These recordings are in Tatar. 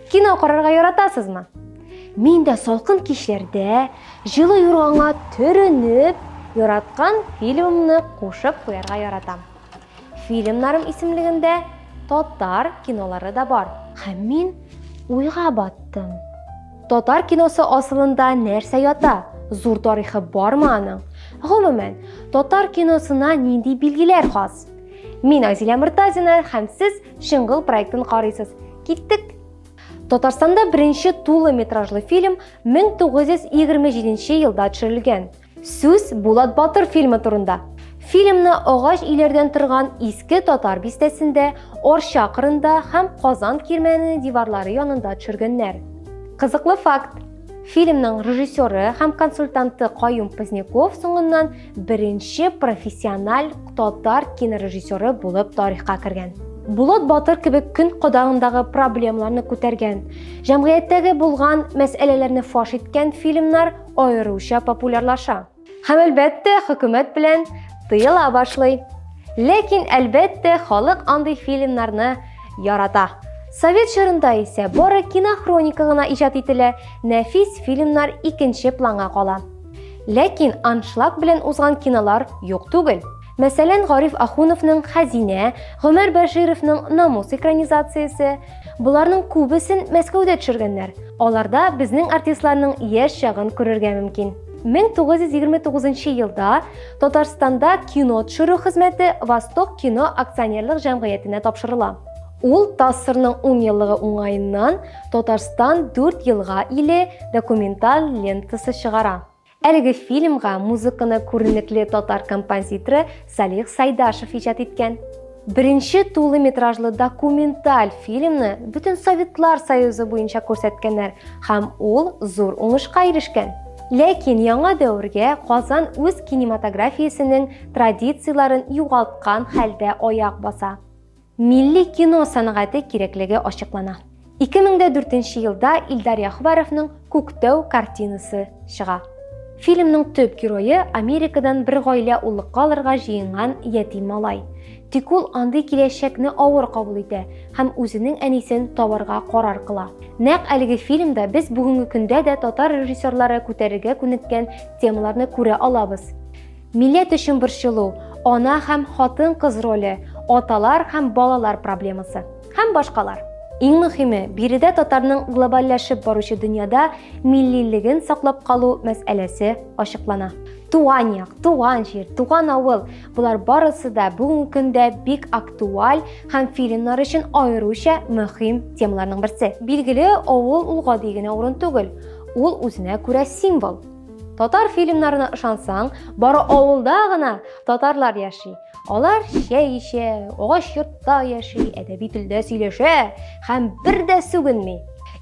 Кино карарга яратасызмы? Мин дә салкын кичләрдә җылы юрганга төренеп, яраткан фильмымны кушып куярга яратам. Фильмнарым исемлегендә татар кинолары да бар. Һәм мин уйга баттым. Татар киносы асылында нәрсә ята? Зур тарихы бармы аның? Гомумән, татар киносына нинди билгеләр хас? Мин Азилә Муртазина һәм сез Шыңгыл проектын карыйсыз. Киттек! Татарстанда беренче тулы метражлы фильм 1927 елда төшерелгән. Сүз Булат батыр фильмы турында. Фильмны агач иләрдән торган иске татар бистәсендә, Орча кырында һәм Казан кирмәненең диварлары янында төшергәннәр. Кызыклы факт. Фильмның режиссеры һәм консультанты Каюм Поздняков соңыннан беренче профессиональ татар кинорежиссеры булып тарихка кергән. Булат Батыр кебек көн кадагындагы проблемаларны күтәргән, җәмгыятьтәге булган мәсьәләләрне фаш иткән фильмнар аеруча популярлаша. Һәм әлбәттә, хөкүмәт белән тыела башлый. Ләкин әлбәттә, халык андый фильмнарны ярата. Совет чорында исә бары кинохроника гына иҗат ителә, нәфис фильмнар икенче планга кала. Ләкин аншлаг белән узган кинолар юк түгел. Мәсәлән, Гариф Ахуновның Хәзинә, Гомәр Бәшировның Намус экранизациясе. Боларның күбесен Мәскәүдә төшергәннәр. Аларда безнең артистларның яшь чагын күрергә мөмкин. 1929 елда Татарстанда кино төшерү хезмәте Восток кино акционерлык җәмгыятенә тапшырыла. Ул ТАССРның 10 еллыгы уңаеннан Татарстан 4 елга иле документаль лентасы чыгара. Әлеге фильмга музыканы күренекле татар композиторы Салих Сайдашев иҗат иткән. Беренче тулы метражлы документаль фильмны бөтен Советлар Союзы буенча күрсәткәннәр һәм ул зур уңышка ирешкән. Ләкин яңа дәвергә Казан үз кинематографиясенең традицияләрен югалткан хәлдә аяк баса. Милли кино сәнгате кирәклеге ачыклана. 2004 елда Илдар Яхубаровның Күктау картинасы чыга. Фильмның төп герое Америкадан бер гаилә уллыкка алырга җыенган ятим малай. Тик ул андый киләчәкне авыр кабул итә һәм үзенең әнисен табарга карар кыла. Нәкъ әлеге фильмда без бүгенге көндә дә татар режиссерлары күтәрергә күнеккән темаларны күрә алабыз. Милләт өчен борчылу, ана һәм хатын-кыз роле, аталар һәм балалар проблемасы һәм башкалар. Иң мөһиме, биредә татарның глобальләшеп баручы дөньяда миллилеген саклап калу мәсьәләсе ачыклана. Туган як, туган җир, туган авыл, болар барысы да бүгенге көндә бик актуаль һәм фильмнар өчен аеруча мөһим темаларның берсе. Билгеле, авыл ул гади генә урын түгел, ул үзенә күрә символ. Татар фильмнарына ышансаң, бары авылда гына татарлар яши. Алар чәй эчә, агач йортта яши, әдәби телдә сөйләшә һәм бер дә сүгенми.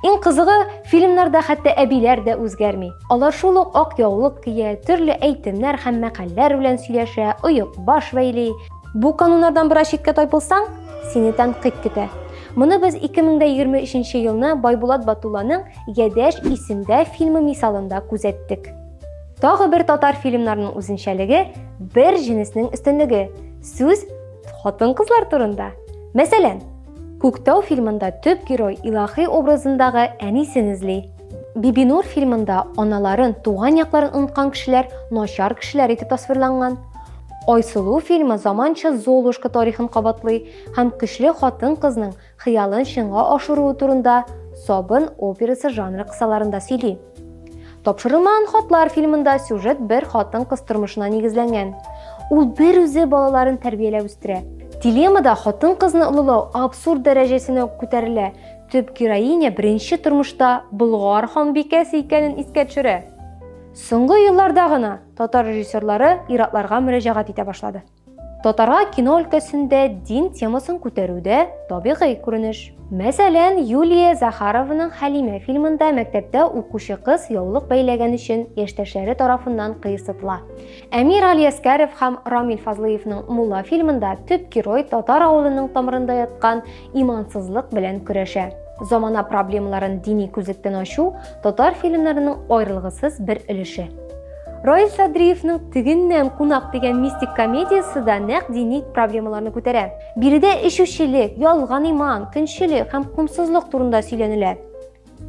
Иң кызыгы, фильмнарда хәтта әбиләр дә үзгәрми. Алар шул ук ак яулык кия, төрле әйтемнәр һәм мәкальләр белән сөйләшә, оек баш бәйли. Бу кануннардан бераз читкә тайпылсаң, сине тәнкыйть көтә. Моны без 2023 елны Байбулат Батулланың Ядәш исемдә фильмы мисалында күзәттек. Тагы бер татар фильмнарының үзенчәлеге бер җенеснең өстенлеге. Сүз хатын-кызлар турында. Мәсәлән, Күктау фильмында төп герой илахи образындагы әнисен эзли. Бибинур фильмында аналарын, туган якларын оныткан кешеләр начар кешеләр итеп тасвирланган. Айсылу фильмы заманча Золушка тарихын кабатлый һәм көчле хатын-кызның хыялын чынга ашыруы турында Сабын операсы жанры кысаларында сөйли. Тапшырылмаган хатлар фильмында сюжет бер хатын-кыз тормышына нигезләнгән. Ул бер үзе балаларын тәрбияләп үстерә. Дилеммада хатын-кызны олылау абсурд дәрәҗәсенә күтәрелә. Төп героиня беренче тормышта Болгар ханбикәсе икәнен искә төшерә. Соңгы елларда гына татар режиссерлары иратларга мөрәҗәгать итә башлады. Татарга кино өлкәсендә дин темасын күтәрү дә табигый күренеш. Мәсәлән, Юлия Захарованың Хәлимә фильмында мәктәптә укучы кыз яулык бәйләгән өчен яшьтәшләре тарафыннан кыерсытыла. Әмир Алияскәров һәм Рамил Фазлыевның Мулла фильмында төп герой татар авылының тамырында яткан имансызлык белән көрәшә. Замана проблемаларын дини күзлектән ачу татар фильмнарының аерылгысыз бер өлеше. Раил Садриевның Тегеннән кунак дигән мистик комедиясе дә нәкъ дини проблемаларны күтәрә. Биредә эчүчелек, ялган иман, көнчелек һәм комсызлык турында сөйләнелә.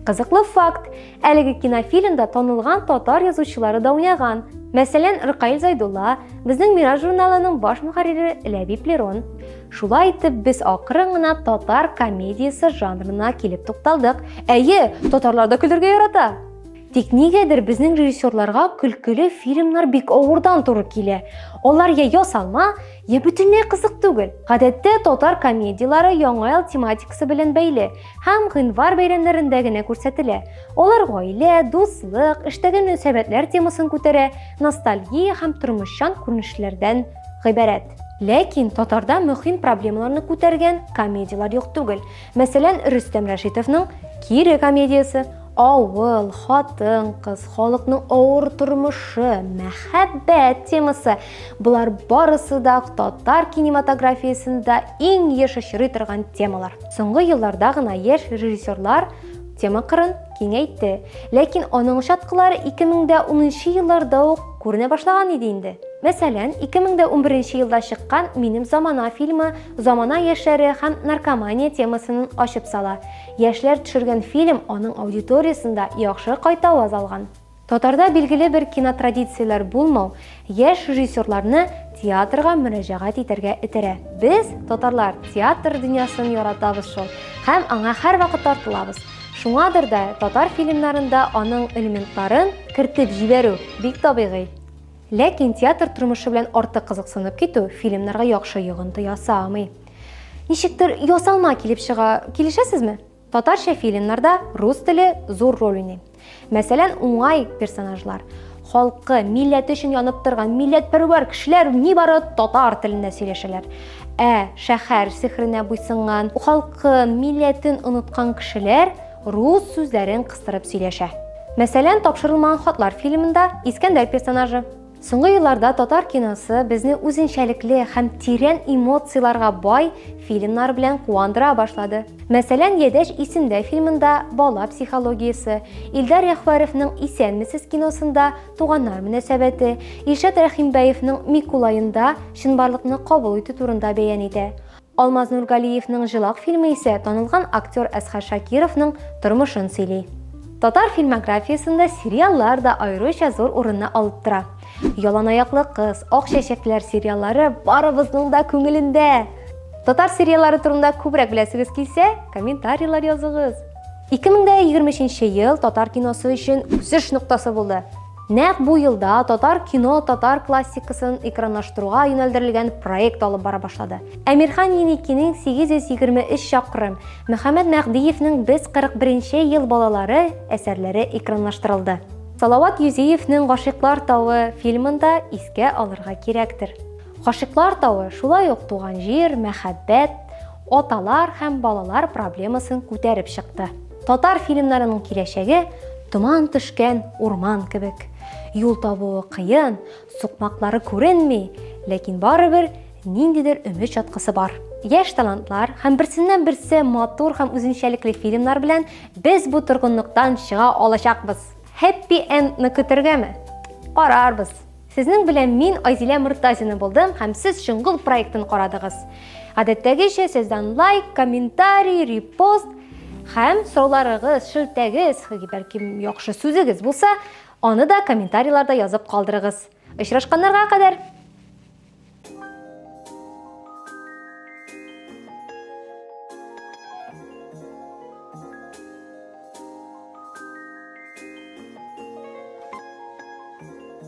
Кызыклы факт, әлеге кинофильмда танылган татар язучылары да уйнаган. Мәсәлән, Рыкаил Зайдулла, безнең Мираж журналының баш мөхәррире Ләбиб Лерон. Шулай итеп, без акрын гына татар комедиясе жанрына килеп тукталдык. Әйе, татарлар да көлергә ярата. Тик нигәдер безнең режиссерларга көлкеле фильмнар бик авырдан туры килә. Алар я ясалма, я бөтенләй кызык түгел. Гадәттә татар комедияләре яңа ел тематикасы белән бәйле. һәм гыйнвар бәйрәмнәрендә генә күрсәтелә. Алар гаилә, дуслык, эштәге мөнәсәбәтләр темасын күтәрә, ностальгия һәм тормышчан күренешләрдән гыйбарәт. Ләкин татарда мөһим проблемаларны күтәргән комедияләр юк түгел. Мәсәлән, Рөстәм Рәшитовның Кире комедиясе, Авыл, хатын-кыз, халыкның авыр тормышы, мәхәббәт темасы, болар барысы да татар кинематографиясендә иң еш очрый торган темалар. Соңгы елларда гына яшь режиссерлар тема кырын киңәйтте. Ләкин аның чаткылары 2010 елларда ук күренә башлаган иде инде. Мәсәлән, 2011 елда чыккан Минем замана фильмы замана яшьләре һәм наркомания темасын ачып сала. Яшьләр төшергән фильм аның аудиториясендә яхшы кайтаваз алган. Татарда билгеле бер кинотрадицияләр булмау яшь режиссерларны театрга мөрәҗәгать итәргә этәрә. Без, татарлар, театр дөньясын яратабыз шул һәм аңа һәрвакыт тартылабыз. Шуңадыр да татар фильмнарында аның элементларын кертеп җибәрү бик табигый. Ләкин театр тормышы белән артык кызыксынып китү фильмнарга яхшы йогынты ясамый. Ничектер ясалма килеп чыга, килешәсезме? Татарча фильмнарда рус теле зур роль уйный. Мәсәлән, уңай персонажлар, халкы, милләте өчен янып торган милләтпәрвәр кешеләр нибары татар телендә сөйләшәләр. Ә шәһәр сихренә буйсынган, халкы, милләтен оныткан кешеләр рус сүзләрен кыстырып сөйләшә. Мәсәлән, тапшырылмаган хатлар фильмында Искәндәр персонажы Соңгы елларда татар киносы безне үзенчәлекле һәм тирән эмоцияләргә бай фильмнар белән куандыра башлады. Мәсәлән, Ядәш исемдә фильмында бала психологиясе, Илдар Яхваровның Исәнмесез киносында туганнар мөнәсәбәте, Илшат Рәхимбәевның Микулаенда чынбарлыкны кабул итү турында бәян итә. Алмаз Нургалиевның Җылак фильмы исә танылган актер Әсхәр Шакировның тормышын сөйли. Татар фильмографиясендә сериаллар да аеруча зур урынны алып тора. Яланаяклы кыз, Ак чәчәкләр сериаллары барыбызның да күңелендә! Татар сериаллары турында күбрәк беләсегез килсә, комментарийлар языгыз. 2023 ел татар киносы өчен үсеш ноктасы булды. Нәкъ бу елда татар кино татар классикасын экранлаштыруга юнәлдерелгән проект алып бара башлады. Әмирхан Еникинең 823 чакрым, Мөхәммәд Мәгъдиевнең Без 41-нче ел балалары әсәрләре экранлаштырылды. Салават Юзиевнең Гашыйклар тавы фильмын да искә алырга кирәктер. Гашыйклар тавы шулай ук туган җир, мәхәббәт, аталар һәм балалар проблемасын күтәреп чыкты. Татар фильмнарының киләчәге томан төшкән урман кебек. Юл табуы кыен, сукмаклары күренми, ләкин барыбер ниндидер өмет чаткысы бар. Яшь талантлар һәм берсеннән берсе матур һәм үзенчәлекле фильмнар белән без бу торгынлыктан чыга алачакбыз. Happy End-ны көтергәме? Карарбыз. Сезнең белән мин Айзилә Мортазина булдым һәм сез Чоңгыл проектын карадыгыз. Гадәттәгечә сездән лайк, комментарий, репост һәм сорауларыгыз, шелтәгез, бәлки яхшы сүзегез булса, аны да комментарийларда язып калдырыгыз. Очрашканнарга кадәр!